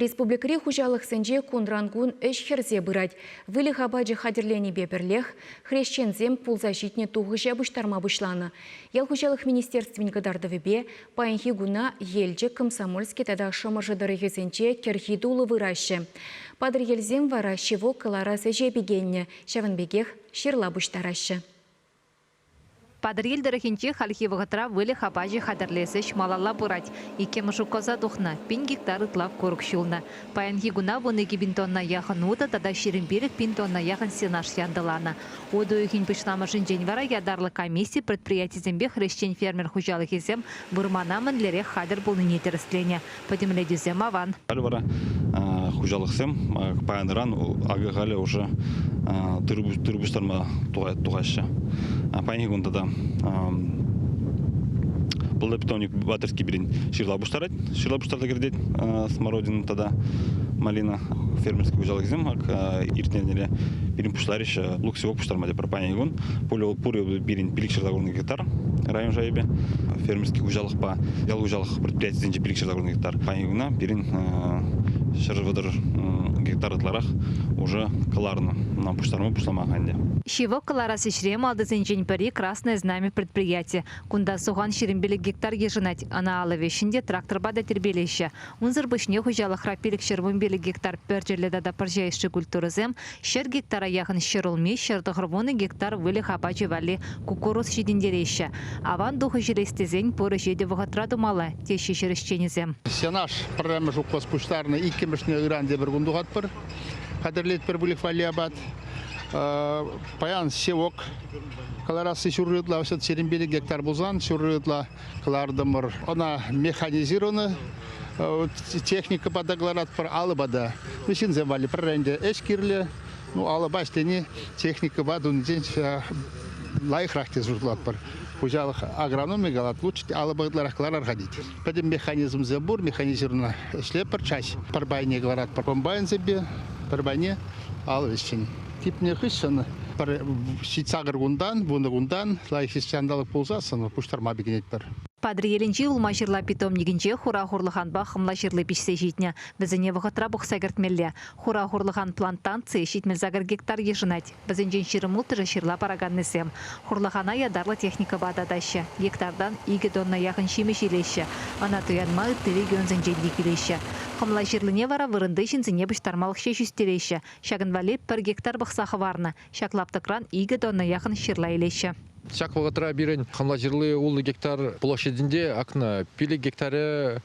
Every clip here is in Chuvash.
Республикӑри хуҫалӑхсенче кунран-кун ӗҫ хӗрсе пырать. Выльӑх апачӗ хатӗрленипе пӗрлех хресченсем пулса ҫитнӗ тухӑҫа пуҫтарма пуҫланӑ. Ял хуҫалӑх министерствин кӑтартӑвӗпе паянхи куна Елчӗк, Комсомольски тата Шӑмӑршӑ тӑрӑхӗсенче кӗрхи тулӑ выраҫҫӗ. Патӑрьелсем вара ҫивок кӑларас ӗҫе пикеннӗ, ҫавӑн пекех ҫырла пуҫтараҫҫӗ. Патӑрьел тӑрӑхӗнче хальхи вӑхӑтра выльӑх апачӗ хатӗрлес ӗҫ малалла пырать. Иккӗмӗш укӑлза тухнӑ, пин гектар ытла курӑк ҫулнӑ. Паянхи куна вун икӗ пин тонна яхӑн утӑ тата ҫирӗм пилӗк пин тонна яхӑн сенаж янтӑланӑ. Утӑ уйӑхӗн пуҫламӑшӗнчен вара ятарлӑ комисси предприятисемпе хресчен-фермер хуҫалӑхӗсем вырмана мӗнлерех хатӗр пулнине тӗрӗсленӗ, пӗтӗмлетӳсем аван. Халӗ вара хуҫалӑхсем паян-ыран авиа халӗ уже тыр пуҫтарма тухаҫҫӗ. Паянхи кун тата пылда питомник Батырский пирӗн ҫырла пуҫтарать. Ҫырла пуҫтарса кӗртет Смородина тата Малина фермерский хуҫалӑхсем иртнӗ эрнере пирӗн пуҫларӗҫ лук-севок пуҫтарма тепӗр Пани кун пур пирӗн пилӗкҫӗр закрытный гектар район шайӗпе фермерский хуҫалӑхпа ял хуҫалӑх предприятийӗсенче пилӗкҫӗр закрытный гектар. Пани куна пирӗн ҫӗр вӑтӑр гектар ытларах уже кӑларнӑ. Нам пуҫтарма пуҫлама ӗнтӗ. Ҫывӑх кӑларас ӗҫре малтисенчен пӗри Красное знамя предприяти. Кунта сухан ҫирӗмпелӗк гектар йышӑнать. Ӑна алӑ веҫҫӗн те тракторпа та тирпейлеҫҫӗ. Унсӑр пуҫне хуҫалӑхра пилӗкҫӗр вунпелӗк гектар пӗрчӗллӗ тата пӑрҫа ӑшши культурӑсем, Ҫӗр гектара яхӑн ҫӗр улми, ҫӗр тӑхӑр вунӑ гектар выльӑх апачӗ валли куккурус ҫитӗнтереҫҫӗ. Аван тухӑҫ илес тесен пур ӗҫе те вӑхӑтра тумалла, теҫҫӗ ҫӗр ӗҫченӗсем. Сенаж пӗрремӗш указ пуҫтарнӑ, иккӗмӗшне ыран тепӗр кун тухатпӑр. Хатӗрлетпӗр выльӑх валли апат. Паян севок кӑларасси ҫурри ытла, сирӗнпе те гектар пулсан ҫурри ытла кӑлартӑмӑр. Ӑна механизировано техникӑпа та кӑларатпӑр, алӑпа та. Ну, ҫынсем валли пӗрре ӗнтӗ ӗҫ кирлӗ. Ну, алӑпа ӗҫлени техникӑпа тунисен лайӑхрах тесе шутлатпӑр. Хуҫалӑх агрономи калать, лучше алӑпа ытларах кӑларар-ха тет. Пӗтӗм механизмсем пур, механизировано ӗҫлепӗр, чаҫ пӗр пайне кӑларатпӑр комбайнсемпе, пӗр пайне алӑ ӗҫчен. Типнӗ хыҫҫӑн пӗр сакӑр кунтан, вунӑ кунтан лайӑх ҫанталӑк пулсассӑн пуҫтарма пикенетпӗр. Патӑрьелӗнчи улма-ҫырла питомникӗнче хура хурлӑханпа хӑмла ҫырли пиҫсе ҫитнӗ. Вӗсене вӑхӑтра пухса кӗртмелле. Хура хурлӑхан плантацийӗ ҫитмӗл сакӑр гектар йышӑнать. Вӗсенчен ҫирӗм улттӑшӗ ҫырла параканнисем. Хурлӑхана ятарлӑ техникӑпа татаҫҫӗ. Гектартан икӗ тонна яхӑн ҫимӗҫ илеҫҫӗ. Ӑна туянма ытти регионсенчен те килеҫҫӗ. Хӑмла ҫырлине вара вырӑнти ҫынсене пуҫтармалӑх ҫеҫ ӳстереҫҫӗ, Ҫакӑн валли пӗр гектар пӑхса хӑварнӑ. Ҫак лаптӑкран икӗ тонна яхӑн ҫырла илеҫҫӗ. Ҫак вӑхӑтра пирӗн хӑмла ҫырли ултӑ гектар площадӗнче акнӑ. Пилӗк гектаре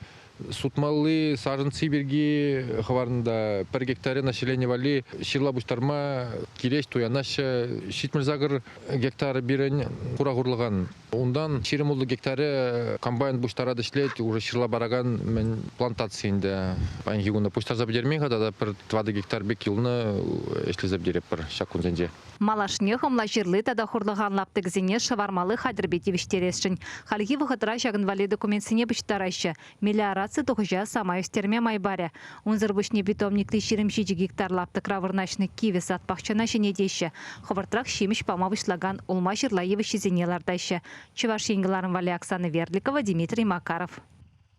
сутмалли сарӑнци пирки хӑварнӑ та пӗр гектаре населени валли ҫырла пуҫтарма килеҫ туянаҫҫӗ. Ҫитмӗл сакӑр гектар пирӗн хура хурлӑхан. Унтан ҫирӗмуллӑ гектарӗ комбайн пуҫтарать ӗҫлет, уже ҫырла паракан мӗн плантаци ӗнтӗ. Паянхи куна пуҫтарса пӗтермен-ха тата пӗр тӑватӑ гектар пек юлнӑ, ӗҫлесе пӗтеретпӗр ҫак кунсенче. Малашне хӑмла ҫырли тата хурлӑхан лаптӑкӗсене шӑвармалли хатӗрпе тивӗҫтересшӗн. Хальхи вӑхӑтра ҫакӑн валли документсене пуҫтараҫҫӗ, Мелиораци тухӑҫа самай ӳстерме май парӗ. Унсӑр пуҫне питомникри ҫирӗм ҫичӗ гектар лаптӑкра вырнаҫнӑ кивӗ сад пахчана ҫӗнетеҫҫӗ, хӑвӑртрах ҫимӗҫ пама пуҫлакан улма-ҫырла йывӑҫҫисене лартаҫҫӗ, Чӑваш Ен кӑларӑм валли Оксана Верликова, Дмитрий Макаров.